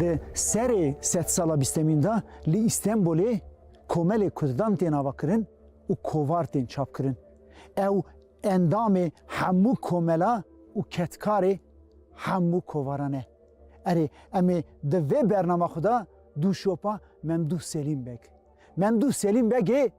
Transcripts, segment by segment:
Di serê sedsala bîstemîn de li Îstenbolê komelê Kurdan tên avakirin û kovar tên çapkirin. Ew endamê hemû komela û ketkarê hemû kovaran e. Erê em ê di vê bernama xwe de dû şopa Memdûh Selîm Beg. Memdûh Selîm Begê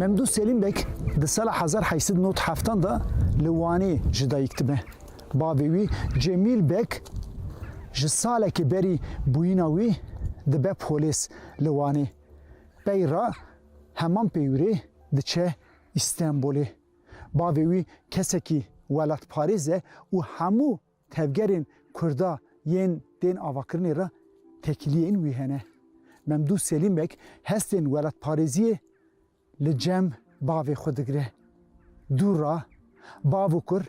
Memdû Selîm Beg di sala hezar heşt sed û nod heftan de li Wanê ji dayik dibe. Bavê wî Cemîl Beg ji salekê berî bûyîna wî dibe polês li Wanê. Pey re heman peywirê diçe Îstenbolê. Bavê wî kesekî welatparêz e û hemû Tevgerên Kurda yên tên avakirinê re têkiliyên wî hene. Memdû Selîmek hestên welatparêziyê li cem bavê xwe digire. Dû ra bav û kur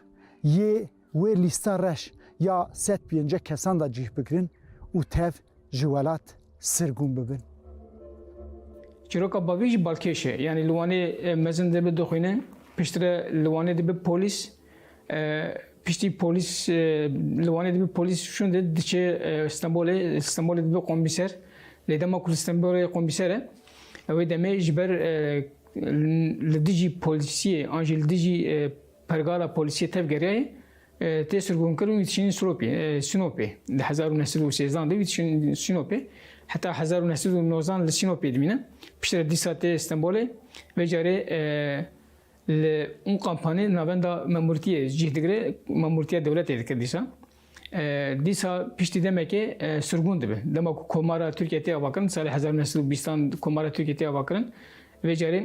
yê wê lîsta reş ya sed pênce kesan de cih bigirin û tev ji welat sirgûn bibin. Çîroka bavî jî balkêş e. Yanî li Wanê mezin dibe dixwîne, piştre li Wanê dibe polîs. Piştî polîs li Wanê dibe polîs şûn de diçe Stenbolê, Stenbolê dibe komîser. Lê dema ku li Stenbolê komîser e, ew ê demê ji ber li dijî polîsiyê an jî li dijî pergala polîsiyê tevgeriyaye Tê sirgûnkir û çîn Siropê, Sinopê. Di hezar û neh sed û sêzdan de wî çîn Sinopê. Heta hezar û neh sed û nozan li Sinopê dimîne. Piştre re dîsa tê Stenbolê. Vê carê li Unqampanê li navenda memûrtiyê cih digire, memûrtiya dewletê dikir dîsa. Dîsa piştî demekê sirgûn dibe. Dema ku komara Tirkiye tê avakirin, di salê hezar û neh sed û bîstan komara Tirkiye tê avakirin. Vê carê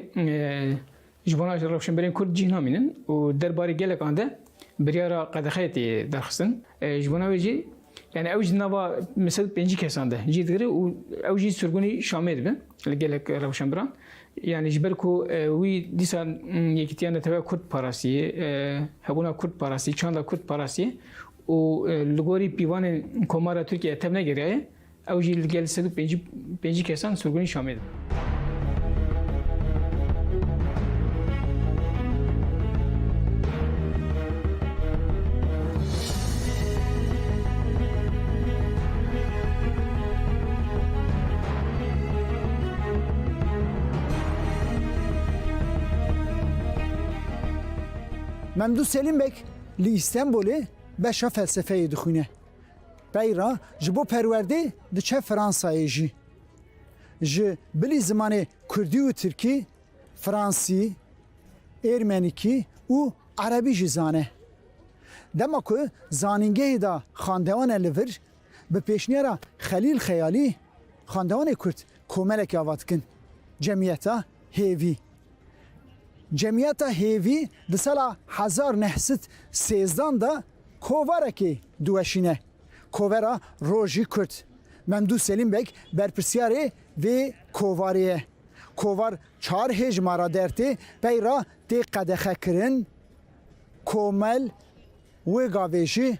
Ji bona rewşenberên Kurd cih namînin û der barê gelekan de biryara qedexeyê tê derxistin. Ji bona wê jî yani ew jî nava min sed û pêncî kesan de cih digire û ew jî surgunî Şamê dibe li gelek rewşenberan. Yani ji ber ku wî dîsa yekîtiya neteweya Kurd parastî, hebûna Kurd parastî, çanda Kurd parastî û li gorî pîvanên Komara Tirkiyeyê tevnegeriyaye. Ew jî li gel sed û pêncî kesan surgunî Şamê dibin. Memdû Selîmbek li Îstenbolê beşa felsefeyê dixwîne. Pey re ji bo perwerdê diçe Fransayê jî. Ji bilî zimanê kurdî û tirkî, fransî, êrmenîkî û erebî jî zane. Dema ku zanîngehê da xandewana li vir, bi pêşniyara Xelîl Xeyalî xandewanê kurd komelekê ava dikin, Cemiyeta Hêvî. Cemiyeta Hêvî di sala hezar neh sed sêzdan de Kovarekê diweşîne Kovera Rojî Kurd. Memdû Selîm Beg berpirsyarê vê kovarê ye. Kovar çar hêjmara dertê pey re tê qedexekirin. Komel Wêgavêjî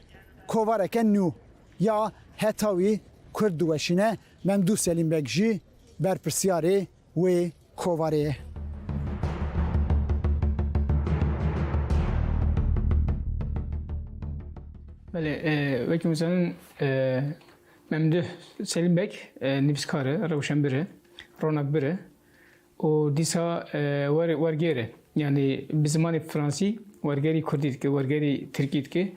kovareke nû ya heta wî Kurd diweşîne, Memdû Selîm Beg jî berpirsyarê wê kovarê ye. Belê wekî min zanin Memduh Selîm Beg nivîskar e, rewşenbir e, ronakbir e û dîsa wergêr e. Yanî bi zimanê fransî wergerî kurdî dike, wergerî tirkî dike.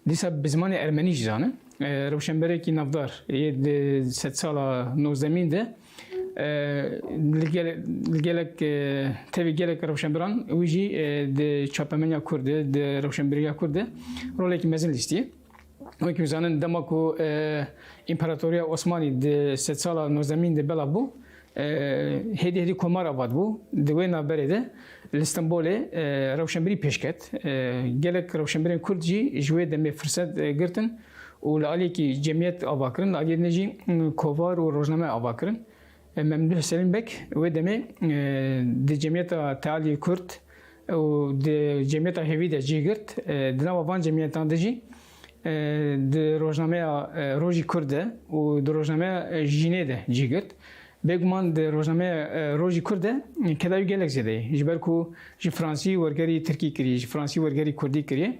Dîsa bi zimanê ermenî jî zane. Rewşenberekî navdar yê di sedsala nozdemîn de Li gelek tevî gelek rewşenbiran wî jî di çapemeniya Kurd de, di rewşenbîriya Kurd de rolekî mezin lîstiye. Wek wî zanin dema ku Împaratoriya Osmanî di sed sala nozdemîn de belav bû, hêdî hêdî komar avat bû. Di wê navberê de li Stenbolê rewşenbîrî pêş ket. Gelek rewşenbîrên Kurd jî ji wê demê firset girtin û li aliyekî cemiyet ava kirin, li aliyê din jî kovar û rojname ava kirin. Memdûh Selîm Beg wê demê di cemiyeta Tealiyê Kurd û di cemiyeta hêvî de cih girt. Di nava van cemiyetan de jî di rojnameya Rojî Kurd de û di rojnameya Jînê de cih girt. Bêguman di rojnameya Rojî Kurd de kedayî gelek zêde ye. Ji ber ku ji Fransî wergerî Tirkî kiriye, ji Fransî wergerî Kurdî kiriye.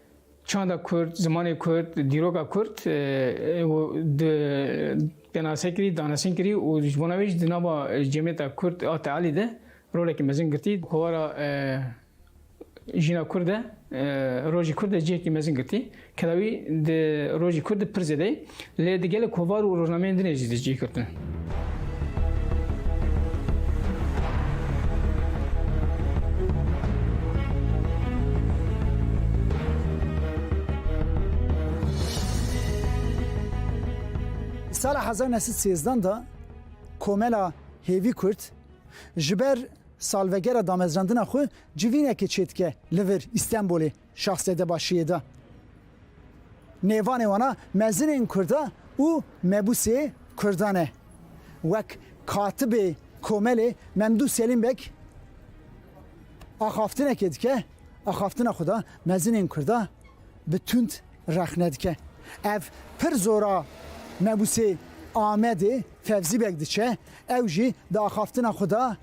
Çanda Kurd, zimanê Kurd, dîroka Kurd di penase kirî, danesin kirî û ji bona wê jî di nava cemiyeta Kurd a tealî de rolekî mezin girtî. Kovara jîna Kurd de, rojî Kurd de cihekî mezin girtî. Kedawî di rojî Kurd de pir zêde ye. Lê di gelek kovar û rojnameyên din ê jî di cih girtin. Di sala hezar neh sed sêzdan de komela hêvî kurd ji ber salvegera damezrandina xwe civînekê çêdike li vir Îstenbolê. Şahzade başiyê de nêvanê wan a mezinên kurd e û mebusê kurdan e. Wek katibê komelê Memdûh Selîm Beg axaftinekê dike, axaftina xwe de mezinên kurd a bi tund rexne dike. Ev pir zor a mebusê Amedê Fevzî Beg diçe, ew jî di axaftina xwe de,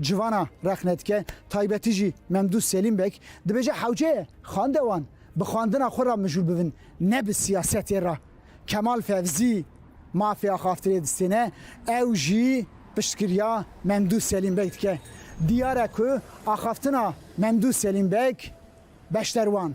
Civana rexnedike taybetî jî Memdû Selîm Beg dibêje hewce ye xande wan bi xwendina xwe re mijûl bibin ne bi siyasetê re. Kemal Fevzî mafê axaftirê distêne ew jî piştgiriya Memdû Selîm Beg dike. Diyar e ku axaftina Memdû Selîm Beg beşder wan.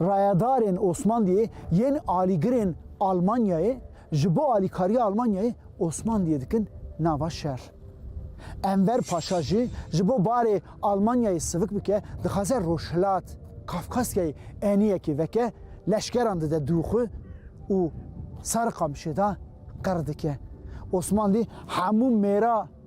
Rayedarên Osmanliyê yên alîgirên Almanyayê ji bo alîkariya Almanyayê Osmanliyê dikin nava şer. Enver Paşa jî ji bo barê Almanyayê sivik bike dixwaze Rojhilat, Kafkasyayê eniyekê veke, leşkeran dide dû xwe û Sarıkamışê de qir dike. Osmanlî hemû mêra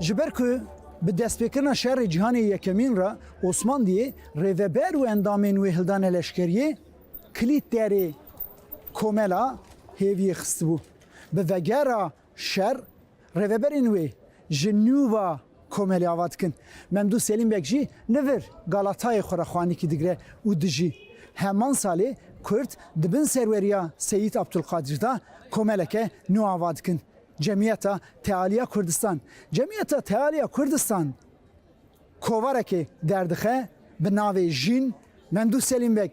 Ji ber ku bi destpêkirina Şerê Cîhanê Yekemîn re Osmandiyê rêveber û endamên wê hildane leşkeriyê kilît derê komela hêviyê xistibû. Bi vegera Şer, rêveberên wê ji nû va komelê ava dikin. Memdûh Selîm Beg jî li vir galatayê xwe re xwanikî digire û dijî. Heman salê Kurd di bin serweriya Seyîd Abdulkadir de komeleke nû ava dikin, Cemiyeta Tealiya Kurdistan. Cemiyeta Tealiya Kurdistan kovarekê derdixe bi navê Jîn Memdûh Selîm Beg.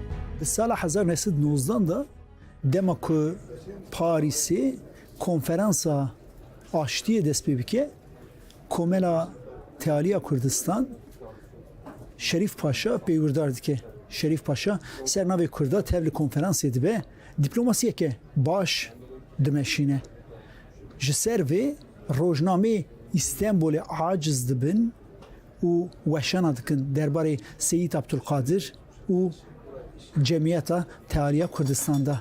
Di sala hezar û neh sed û nozdan de dema ku Parîsê konferansa aştiyê dest pê bike, Komela Tealiya Kurdistan Şerîf Paşa peywirdar dike. Şerîf Paşa ser navê Kurda tev li konferansê dibe, dîplomasiyeke baş dimeşîne. Ji ser vê rojnameyê Îstenbolê aciz dibin û weşana dikin derbarê Seyîd Abdulkadir, û Cemiyeta Tealiya Kurdistan de.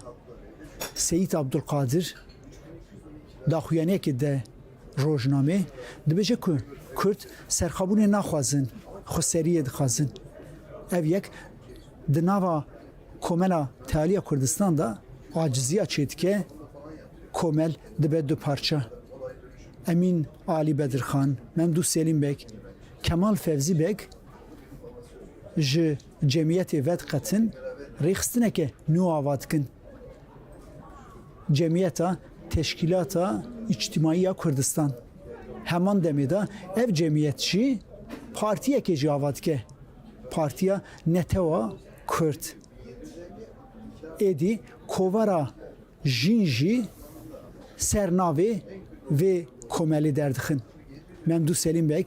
Seyîd Abdulkadir daxuyaniyekê de rojnamê dibêje ku Kurd serxabûnê naxwazin, xweseriyê dixwazin. Ev yek di nava Komela Tealiya Kurdistan de aciziya çêdike, komel dibe du parça. Emîn Alî Bedirxan, Memdû Selîm Beg, Kemal Fevzî Beg Ji cemiyetê vediqetin, rêxistineke nû ava dikin. Cemiyeta Teşkîlata Îçtîmaî ya Kurdistan. Heman demê de ev cemiyet jî partiyekê jî ava dike. Partiya Netewa Kurd. Êdî Kovara Jîn jî ser navê vê komelê derdixin. Memdû Selîm Beg,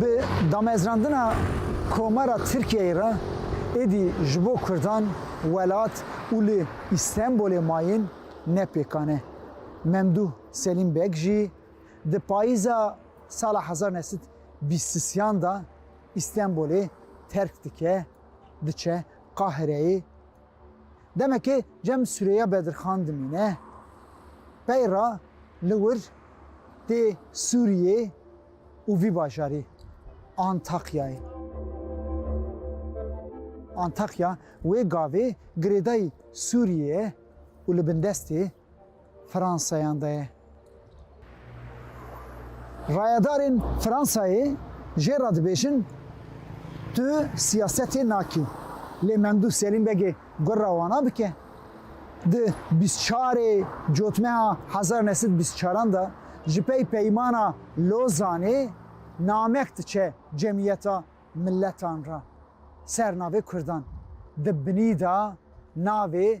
Bi damezrandina Komara Tirkiyeyê re êdî ji bo Kurdan welat û li Îstenbolê mayîn ne pêkan e. Memdûh Selîm Beg jî di payîza sala hezar neh sed bîst sisiyan de Îstenbolê terk dike, diçe Qahireyê. Demekê cem Sureyya Bedirxan dimîne. Peyra li wir tê Sûriyê û vî bajarî Antakyayê. Antakya wê gavê girêdayî Sûriyê ye û li bin destê. Fransayan de ye. Rayedarên Fransayê jê re dibêjin tu siyasetê nakî lê Memdûh Selîm Begê gur re wana bike. Di bîst û çar ê cotmeha hezar û neh sed û bîst û çar an de ji pey Peymana Lozanê namek diçe Cemiyeta Miletan re ser navê Kurdan. Di binî de navê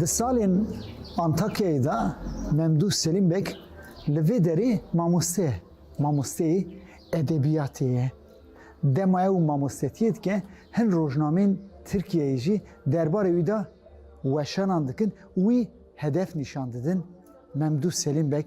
Di salên Antakyayê de Memdû Selîm Beg li vê derê mamoste ye. Mamosteyê edebiyatê ye. Dema ew mamostetiyê dike hin rojnameyên Tirkiyeyê jî derbarê wî de weşanan dikin û wî hedef nîşan didin. Memdû Selîm Beg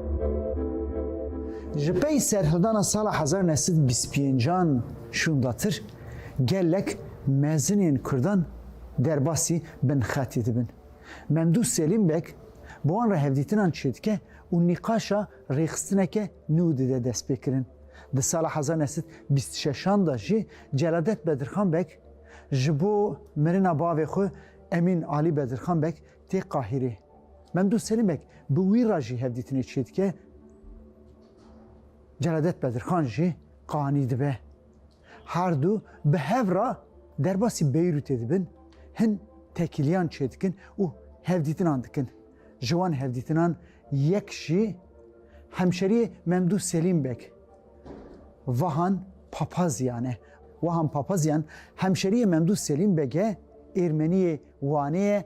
Ji pey serhildana sala hezar neh sed û bîst û pêncan şûndatir gelek mezinên Kurdan derbasî binxetê dibin. Memdûh Selîm Beg bi wan re hevdîtinan çêdike û nîqaşa rêxistineke nû dide destpêkirin. Di sala hezar neh sed û bîst û şeşan de jî Celadet Bedirxan Beg ji bo mirina bavê xwe Emîn Alî Bedirxan Beg tê Qahîrê. Memdûh Selîmek bi wî re jî hevdîtinê çêdike, Celadet Bedirxan jî qanî dibe. Her du bi hev re derbasî Beyrûtê dibin, hin tekîliyan çêdikin û hevdîtinan dikin. Ji wan hevdîtinan yek jî hemşeriyê Memdûh Selîmbek Vahan Papazyan e. Wahan Papazyan hemşeriyê Memdûh Selîmbek e, Êrmeniyê Wanê ye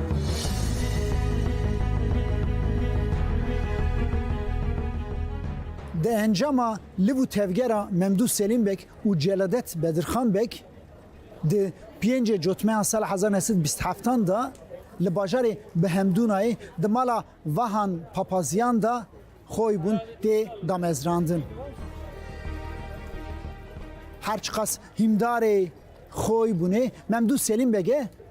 Di encama liv û tevgera Memdû Selîm Beg û Celadet Bedirxan Beg di pêncê cotmeyan sala hezar neh sed û bîst û heftan de li bajarê Bihemdûnayê di mala Vahan Papazyan de xwewî bûn tê damezrandin. Her çiqas hîndarê xwewî bûnê Memdû Selîm Beg e,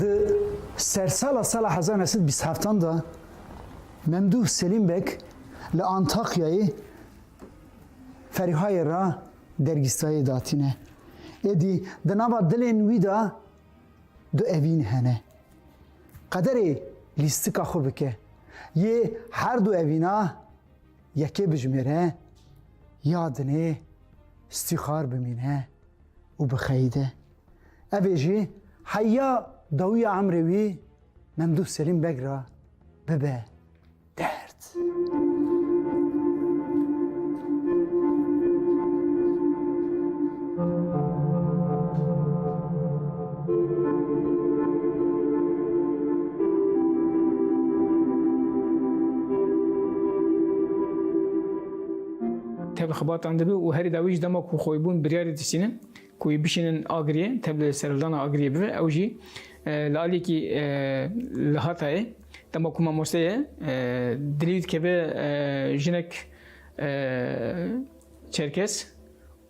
Di sersala sala hezar neh sed bîst heftan de Memduh Selîmbek li Antakyayê Ferihayê re dergîstayê datîne. Êdî di nava dilên wî de du evîn hene. Qederê lîstika xwe bike. Yê her du evîna yekê bijimêre ya dinê stîxar bimîne û bixeyde. Evê jî heya dawîya emrê wî Memdûh Selîm Beg ra bibe derd. Tevî xebatan dibe û herî dawî jî dema ku xwebûn biryarê dişînin Ku wî bişînin Agiriyê, tevlî li serhildana Agiriyê bibe, ew jî li aliyekî li Hatayê. Dema ku mamoste ye, dilî wî dikeve jinek Çerkes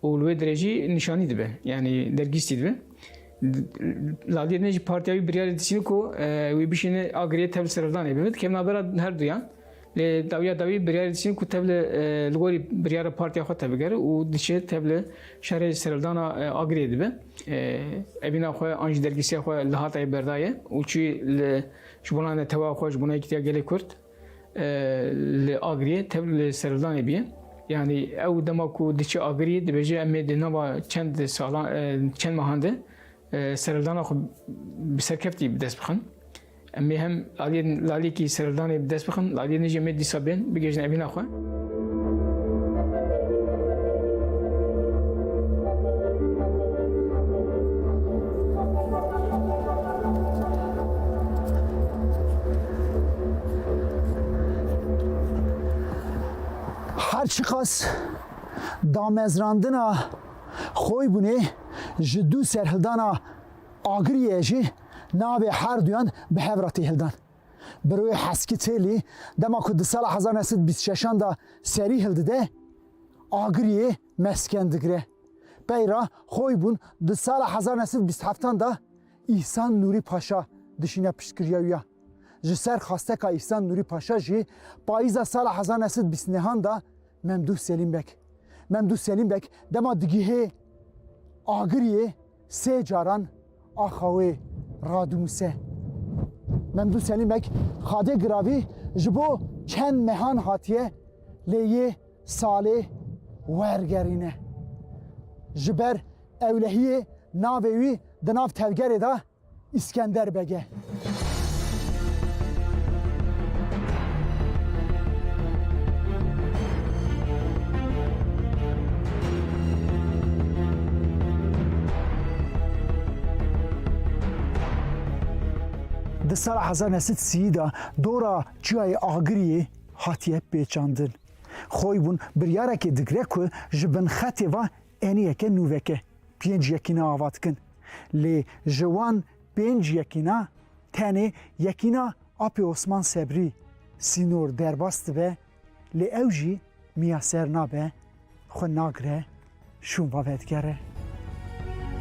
û li wê dirê jî nîşanî dibe, yanî dergîstî dibe. Li aliyê din jî partiya wî biryarê dîsîne ku wî bişîne Agiriyê tevli serhildanê bibe, dikevin navbera her duyan. Lê dawiya dawî biryarê diçin ku tev li li gorî biryara partiya xwe tevbigere û diçe tev li şerê serildana Agiriyê dibe. Evîna xwe an jî dergîsiya xwe li Hatayê berdaye û çû li ji bona netewa xwe, ji bona yekîtiya gelê Kurd li Agiriyê tev li serildanê bîye. Yani ew dema ku diçe Agiriyê dibêje em ê di nava çend salan çend mehan de serildana xwe bi serkeftî bi dest bixin. Em ê hem aliyên lalekî serevdanê bi dest bixin, aliyên nijê me dîsa bên, bigihîjin evîna xwe. Her çiqas damezrandina xwe bûne ji dû serhildana Agiriyê jî navê her duyan bi hev re tê hildan. Bi rûyê Heskî Têlî dema ku di sala hezar neh sed û bîst û şeşan de serî hildide, Agiriyê mesken digire. Pey re xwey bûn di sala hezar neh sed û bîst û heftan de Îhsan Nûrî Paşa dişîne piştgiriya wî ya. Ji ser xwasteka Îhsan Nûrî Paşa jî payîza sala hezar neh sed û bîst û nehan de Memdûh Selîm Beg. Memdûh Selîm Beg dema digihê Agiriyê, Sê caran axa wê radimûse. Memdû Selîmek xadê giravî ji bo çend mehan hatiye lê yê salê wergerîne. Ji ber ewlehiyê navê wî di nav tevgerê de Îskender Bege. Di sala hezar neh sed sî de dora çiyayê Agiriyê hatiye pêçandin. Xoybûn biryarekê digire ku ji bin xetê ve Eniyeke nû veke pênc yekîna ava dikin. Lê ji wan pênc yekîna tenê yekîna Apê Osman Sebrî, Sînor, derbas dibe lê ew jî miyaser nabe, xwe nagire, şûnva vedigere.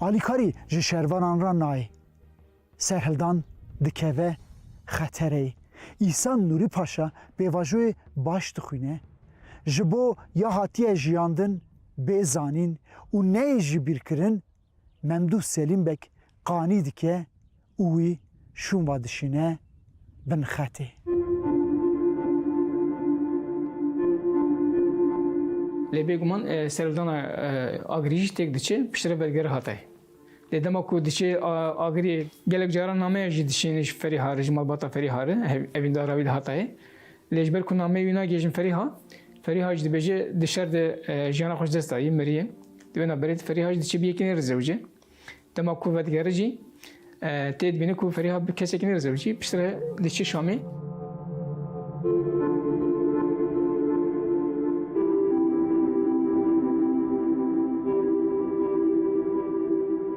Alîkarî ji şervanan re nayê. Serhildan dikeve xetereyê. Îsan Nûrî Paşa pêvajoyê baş dixwîne. Ji bo ya hatiye jiyandin bê zanîn û neyê jibîrkirin, Memdûh Selîm Beg qanî dike û wî şûnva dişîne bin xetê. Lê bêguman serûdana Agirî jî têk diçe, piştre belgere hate. Lê dema ku diçe Agirî gelek caran nameya jî dişîne ji Ferî Hari, ji malbata Ferî Hari, evîndara wî li Hatayê. Lê ji ber ku nameyê wî nagihêjin Ferîha, Ferîha jî dibêje di şer de jiyana xwe ji dest dayî, miriye. Di wê naberê de Ferîha jî diçe bi yekî nêrizewicê. Dema ku vedigere jî tê dibîne ku Ferîha bi kesekî nêrizewicî, piştre re diçe Şamê.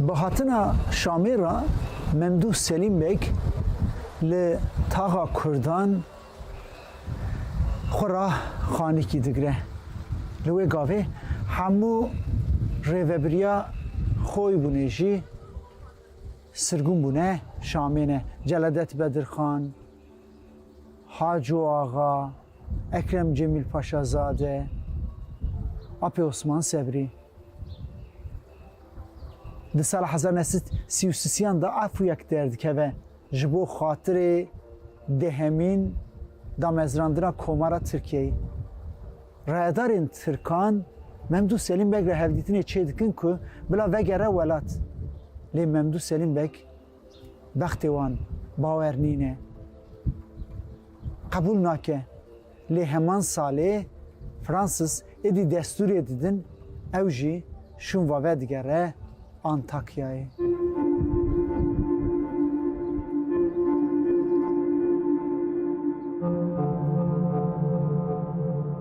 Bi hatina Şamê re Memdûh Selîm Beg li taxa Kurdan xwe re xanîkî digire. Li wê gavê hemû rêvebiriya xwe bûne jî sirgûn bûne Şamê ne. Celadet Bedirxan, Haco Axa, Ekrem Cemîl Paşazade, Apê Osman Sebrî. Di sala hezar neh sed sî û sisiyan de afûyek derdikeve ji bo xatirê dehemîn damezrandina Komara Tirkiyeyê. Rayedarên tirkan Memdûh Selîm Beg re hevdîtinê çêdikin ku bila vegere welat. Lê Memdûh Selîm Beg Bextê wan bawer nîne, qebûl nake. Lê heman salê Francis êdî destûrê didin, ew jî şûn va vedigere Antakyayê.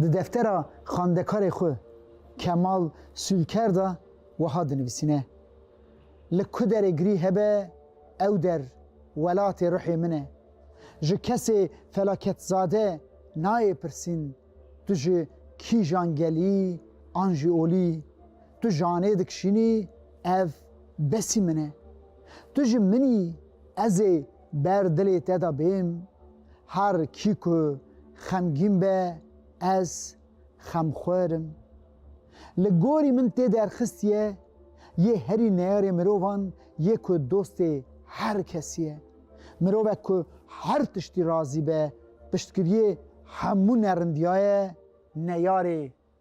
di deftera xandekarê xwe Kemal Sûlker de wiha dinivîsîne, Li ku derê girî hebe ew der welatê ruhê min e. Ji kesê felaketizade nayê pirsîn tu ji kîjan gelî an jî olî, tu janê dikişînî ev besî min e. Tu ji min î, ez ê. Ber dilê te de bêm, her kî ku xemgîn be ez xemxwar im. Li gorî min tê derxistiye yê herî neyarê mirovan yê ku dostê her kesî ye. Mirovek ku her tiştî razî be, piştgiriyê hemû nerindiyaye neyarê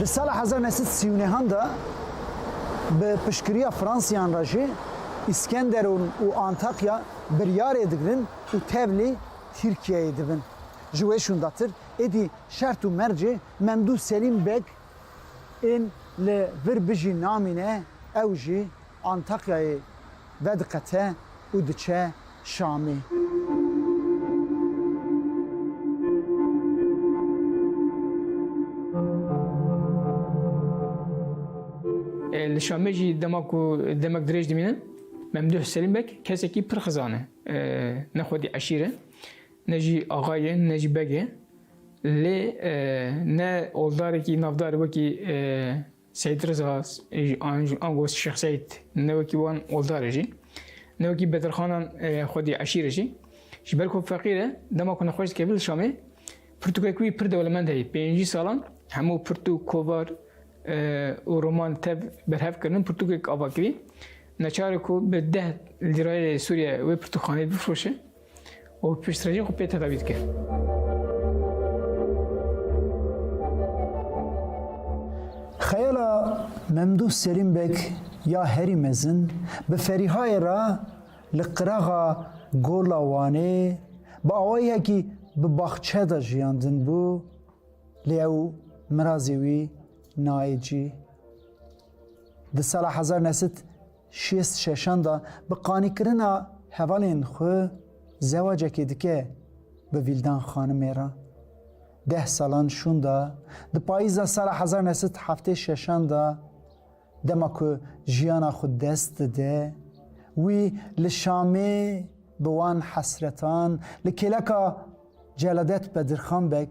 Di sala hezar neh sed sî û nehan de bi piştgiriya Fransiyan re jî Îskenderûn û Antakya biryarê digirin û tevlî Tirkiyeyê dibin. Ji wê şûndatir êdî şert û mercê Memdû Selîm Beg ên li vir bijî namîne ew jî Antakyayê vediqete û diçe Şamê. Li Şamê jî dema ku demek dirêj dimîne Memduh Selîmbek kesekî pir xizan e. Ne xwedî eşîr e, ne jî axa ye, ne jî beg e. Lê ne oldarekî navdar wekî Seyîd Riza an gost Şêx Seyîd ne wekî wan oldar e jî, ne wekî bedirxanan xwedî eşîr e jî. Ji ber ku feqîr e, dema ku nexweş dikeve li Şamê, pirtûkek wî pir dewlemend heye. Pêncî salan hemû pirtûk, kovar û roman tev berhev kirinin, pirtûkek ava kirî. Neçare ku bi deh lîrayê Sûriye wê pirtûkxaneyê bifroşe. û piştrejî xwe pê tedawî dike. Xeyala Memdûh Serîm Beg ya herî mezin bi Ferîhayê re li qiraxa Gola Wanê bi awayekî bi baxçe de jiyandin bû lê ew mirazê wî nayê cî. Di sala hezar nesit Şêst şeşan de bi qanîkirina hevalên xwe zewacekê dike bi Vîldan xanimê re. Deh salan şûn de di payîza sala hezar û neh sed û heftê şeşan de dema ku jiyana xwe dest dide wî li Şamê bi wan hesretan li kêleka Celadet Bedirxan Beg